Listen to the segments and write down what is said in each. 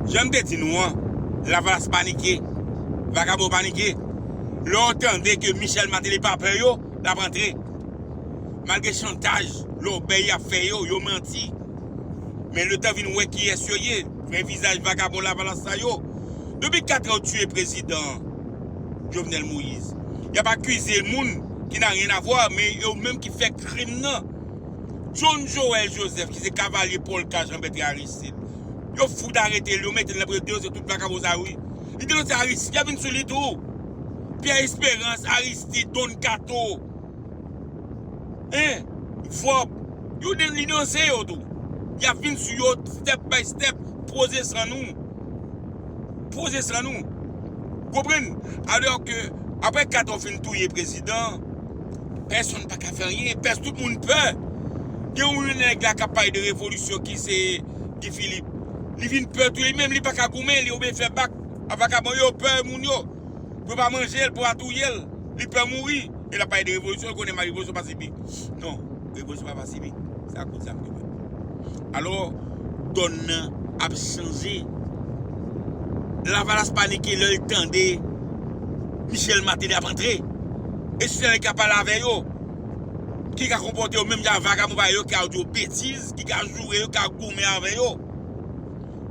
Jan m te di nou an, Lavalas panike, vagabon yo panike. Lè yo tande ke Michel Martelly pa pè yo, l ap antre. Malgre chantaj, lòbèy y ap fè yo, yo manti. Men letan vin wè kiyès yo ye, vrè vizaj vagabon Lavalas sa yo. Depi katrè yo tiye prezidan Jovenel Moïse. Y ap akize moun ki n'a rien à voir men yo menm ki fè krim nan. John Joël Joseph ki se kavalye polka Jean Bertrand Aristide. Yo fout aretel yo metel nan prizon yo se tout vakabon sa yo wi li te lanse aristid yap vin sou li tou pyè esperans aristid don kato hein vòb yo de li danse yo tou yap vin sou yo step by step poze san nou poze san nou ou konprann alò ke aprè kato fin touye prezidan Pèsonn pa ka fè anyen, pès tout moun pè. Gen yon nèg la k ap pale de revolisyon ki se Guy Philippe. Li vin pè tou li menm, li pa ka goumen, li oblije fè bak a vakabon yo, pè moun yo. Pou yo pa manje l, pou yo pa touye l. Li pè mouri e l ap pale de revolisyon, l konnen marigoso pa sibi. Non. Revolisyon pa pasifik, se ak kout zam li fèt. Alò, dòn nan ap chanje. Lavalas panike lè l tande Michel Martelly ap antre. E si se nèg k ap pale avè yo, ki ka konpòte yo menm jan ak vagabon parèy yo ki ka di yo betiz, ki ka joure yo, ki ka goumen avè yo.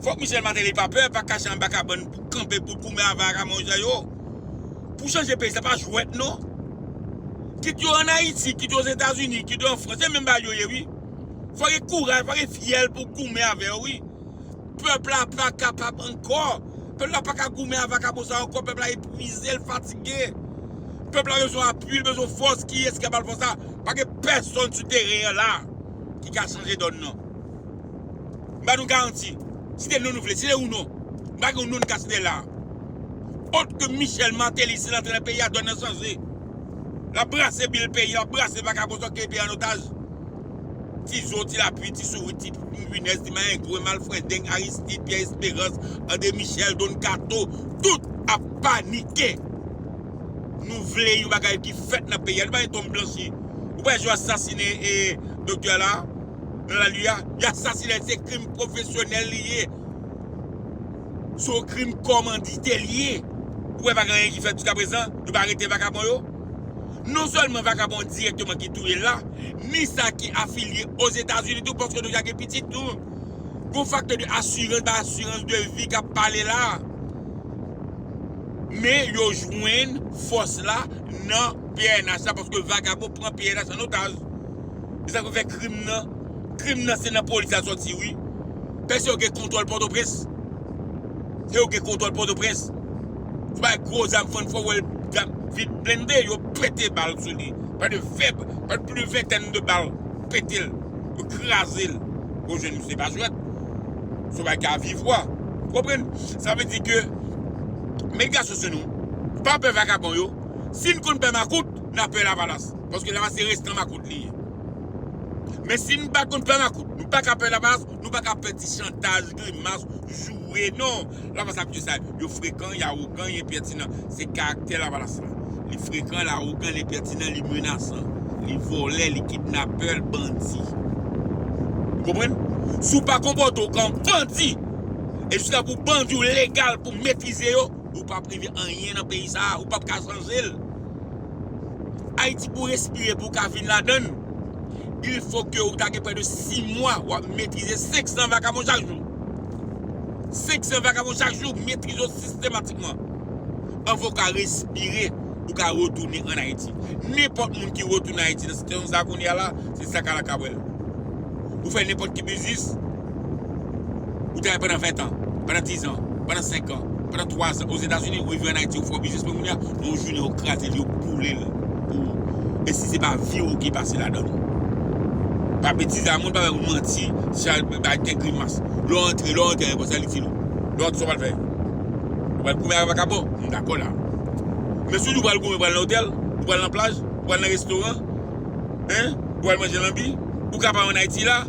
Fòk Michel Martelly pa pè, pa kache anba kabann pou kanpe pou goumen avè vagabon sa yo. pou chanje peyi sa pa jwèt non. Kit yo an Ayiti, kit yo Ozetazini, kit yo an Frans, se menm bagay yo ye wi. Fò gen kouraj, fò gen fyèl pou goumen avè yo wi. Pèp la pa kapab ankò. Pèp la pa ka goumen a vakabon sa ankò, pèp la epwize, l fatige. Pèp la bezwen apui, l bezwen fòs, kiyès ki ka ba l fòs sa? Pa gen pèsonn sou teren an la ki ka chanje dòn nan. M ba nou garanti, site non nou vle, site yon non. M pa gen yon non m ka site la. Ot ke Michel Martelly se lantrenè peyi a done nan chanje. Lap brase bil peyi a, lap brase vakabon sot kenbe peyi a an otaj. Ti zo, ti lapui, ti sourit, ti pinèz, ti mayengwen, malfrendeng, Aristide, Pierre Esperance, André Michel, Don Kato, tout ap panike. Nou vle yon bagay ki fèt nan peyi a. Nou pa gen tonm blanchi. Ou pa wè yo asasine doktè la a nan lalue a? Yo asasine l, se krim pwofesyonèl li ye. Se yon krim kòmandite li ye. Ou wè pa gen anyen ki fèt jiskaprezan, yo pa arete vakabon yo? Non sèlman vakabon dirèkteman ki touye l la, ni sa ki afilye Ozetazini tou paske nou deja gen pitit nou. Gon faktè de asirans bay asirans de vi k ap pale la. Men yo jwenn fòs la nan pnh la paske vakabon pran pnh an otaj. Se sa k ap fè krim nan. Krim nan se nan polis la sòti wi. Pès yo gen kontwòl pòtoprens. Se yo gen kontwòl pòtoprens. Yo bay gwo zam fann fò wè l ap vin blende yo pete bal sou li. Pa de fèb, pa de plis ventèn de bal pete l. Yo kraze l. Yo jwenn misye pa jwèt. Son bagay ki a viv wè. Ou konprann? Sa vle di ke met gason sou nou. Pa pè vakabon yo. Si n konn pè makout, n a pè lavalas. Paske lavalas se restan makout li ye. Men si nou pa konn pè makout, nou pa ka pè lamas, nou pa ka pè ti chantaj, grimas, joure non. Lamas ap di yo sa, yo frekan, y awogan, y enpètinan. Se karaktè lavalas la. Li frekan, l awogan, l enpètinan, li menasan. Li vòlè, li kidnapè, l bandi. Ou konprann? Si w pa konpòte w kan bandi, e jiskaske w bandi w legal pou w metrize yo, ou pap rive anyen nan peyi sa a, ou pap ka chanje l. Ayiti pou respire pou w ka vin ladann, il fo ke ou ta gen prè de 6 mwa w ap metrize 500 vakabon chak jou. 500 vakabon chak jou, metrize yo sistematikman. Anvan ou ka respire, ou ka retounen an Ayiti. Nenpòt moun ki retounen Ayiti nan sitiyasyon sa a kounye a la, se sakalakabwèl. Ou fè nenpòt ki biznis, Ou travay pandan 20 tan, pandan 10 zan, pandan 5 an, pandan 3 zan ozetazini ou rive an Ayiti ou fè yon biznis pran kounye a men yon jounen yo kraze l yo boule l pou ou e si se pa vi w ki pase ladann ou. Pa betize a moun pa bay manti sa bay tèt grimas lè w antre lè w antre ayewopò sa l itil ou? Lè w antre sa w pral fè? Ou pral goumen ak vakabon? M dakò la men si w di w pral goumen ou pral nan otèl ou pral nan plaj ou pral nan restoran hein ou pral manje lanbi ou ka pa an Ayiti la.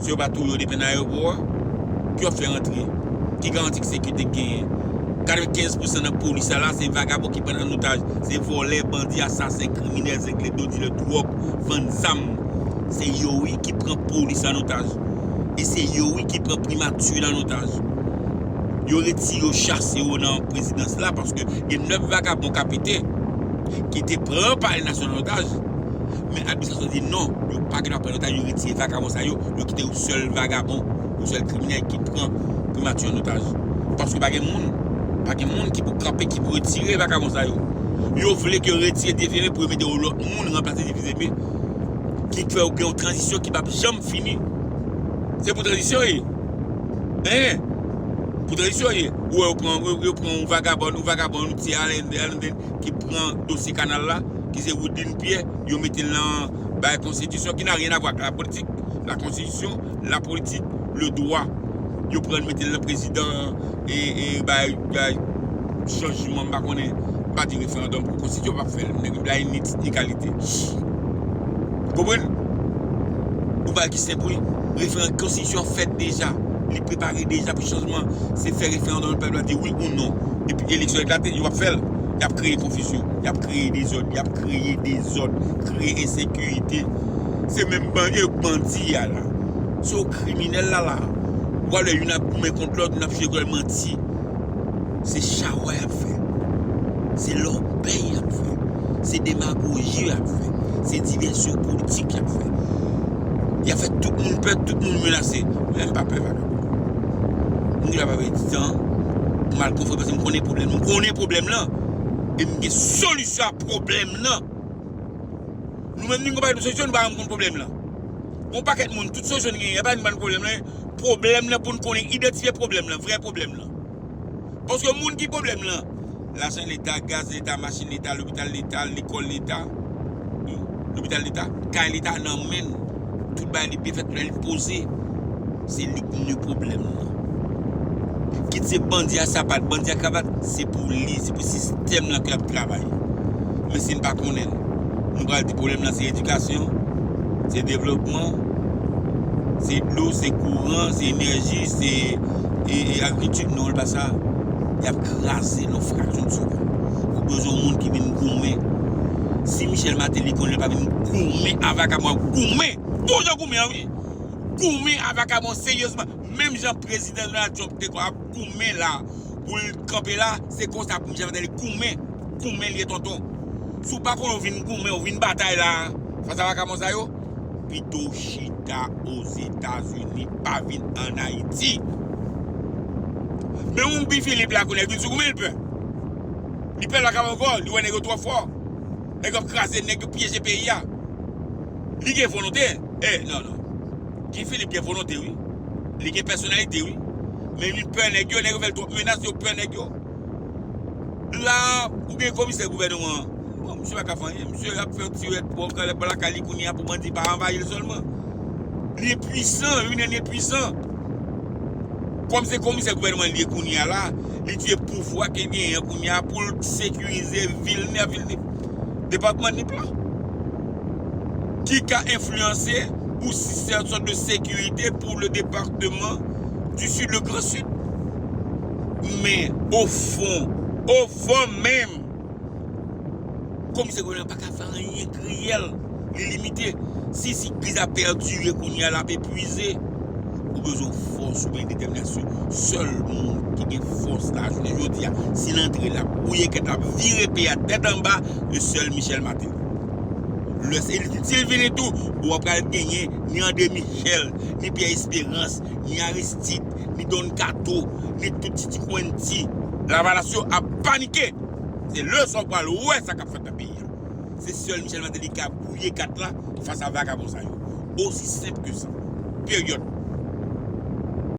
Si yo pa touye w depi nan ayewopò a, ki w ap fè rantre? Ki garanti ki sekite k genyen? 95 pousan nan polis sa la se vagabon ki pran an otaj, se vòlè, bandi, asasen, kriminèl, zengledo, dilè dwòg, vann zam. Se yo wi ki pran polis an otaj. E se yo wi ki pran primati l an otaj. Yo retire yo chase yo nan prezidans la paske gen 9 vagabon kapite ki te pran palè nasyonal an otaj. Men Albicans yo di non, yo pa gen dwa pran notaj, yo retire vagabon sa yo, yo kite yon sèl vagabon, yon sèl kriminèl ki pran Primati an notaj. Paske pa gen moun, pa gen moun ki pou kanpe, ki pou retire vagabon sa yo. Yo vle ke yo retire Dieferre pou yo mete yon lòt moun ranplase Dieusepe ki k fè yo gen yon tranzisyon ki pap janm fini. Se pou tranzisyon ye. Hein! Pou tranzisyon ye. Ou wè yo pran, yo pran yon vagabòn, yon vagabon, yon ti Alain Denis ki pran dosye kanal la. ki se Woodline Pierre, yo mete l nan bay konstitisyon ki na ryen avwa ak la politik, la konstitisyon, la politik, le dwa. Yo pran l mete l nan prezidan e bay chanjman m pa konnen, m pa di referandòm pou konstitisyon pa fè l, nèg yo blayi ni tit ni kalite. Ou konprann? Yon bagay ki senp wi. Referan, konstitisyon an fèt deja, li prepare deja pou chanjman, se fè referandòm pèp la di wi ou non epi eleksyon eklate, yo pa p fè l, y ap kreye konfizyon. Y ap kreye dezòd, y ap kreye dezòd, kreye ensekirite. Se menm bandi yo k bandi a la. Se yo k kriminèl la la. Ou pral wè youn ap goumen kont lòt, youn ap chire kòl manti. Se chawa y ap fè. Se lòbèy y ap fè. Se demagoji y ap fè. Se divèsyon politik y ap fè. Y ap fè tout moun pè, tout moun menase. Mwen m pa pè vagabon. M gen dwa pa pèdi tan pou m al konfwonte paske m konnen pwoblèm. M konnen pwoblèm lan. E m gen solisyon a pwoblèm lan. Nou menm nou gen yon pakèt solisyon nou pa janm konn pwoblèm lan. Gen yon pakèt moun tout solisyon nou genyen yo pa janm konn pwoblèm lan. Pwoblèm lan pou n konnen idantifye pwoblèm lan, vrè pwoblèm lan. Paske moun ki pwoblèm lan, lajan leta, gaz leta, machin leta, lopital leta, lekòl leta, lopital leta, kay leta nan men l. Tout bagay li byen fèt lè li poze. Se li ki ni pwoblèm nan. Kit se bandi a sapat, bandi a kravat, se pou li, se pou sistèm lan ke lap travay. Men si n pa konnen l, nou pral di pwoblèm lan se edikasyon, se devlopman, se dlo, se kouran, se enèji, se agrikilti. Non, li pa sa. Yap kraze l an fraksyon de segonn. Ou bezwen yon moun ki vin goumen. Si Michel Martelly konn li pa menm goumen a vakabon ap goumen pou ou jan goumen an wi goumen a vakabon seryezman menm jan prezidan Donald Trump te konn ap goumen la pou l kanpe la se konsa pou Michel Martelly goumen goumen li ye tonton si w pa konnen w vin goumen w vin batay la fas a vakabon sa yo pito w chita ozetazini pa vin an ayiti menm Guy Philippe la konnen l vin sou goumen l pè. Li pè lakam ankò, li wè nèg yo twò fò. Nèg yo ap kraze, nèg yo pyeje peyi a. Li gen volonte, e non non. Guy Philippe gen volonte wi. Li gen pèsonalite wi. Men li pè nèg yo, nèg yo fè l twòp menas, yo pè nèg yo. La a, ou gen komisè gouvènman an. Bon, misye pa ka fè anyen. Misye ap fè yon ti rèd pou anba lakay li kounye a pou bandi pa anvayi l sèlman. Li enpuisan, li vin enpuisan. Kòm se komisè gouvènman li ye kounye a la. li tye pouvwa ke genyen an kounye a pou l sekirize vil Nip, vil Nip, depatman Nip la, ki ka enfliyanse ou si se yon sòt de sekirite pou le departeman di Sid, le gran Sid. Men, ofon, ofon menm! Komisè Gonayiv paka fè anyen kriyèl li limite si sik kriz la pèdire kounye a lap epwize ou bezwen fòs ou byen detèminasyon sèl moun ki gen fòs la jounen jodi a si l antre lap bwouye kèt lap vire peyi a tèt anba e sèl Michel Martelly lè se li si l vini tou ou pa pral genyen ni André Michel ni Pierre Espérance ni Aristide ni Don Kato ni tout ti ti kwenn ti lavalas yo ap panike. Se lè sa ou pral wè sa kap fèt nan peyi a. Se sèl Michel Martelly ki ka brouye kat la fas a vagabon sa yo. Osi senp ke sa. Period.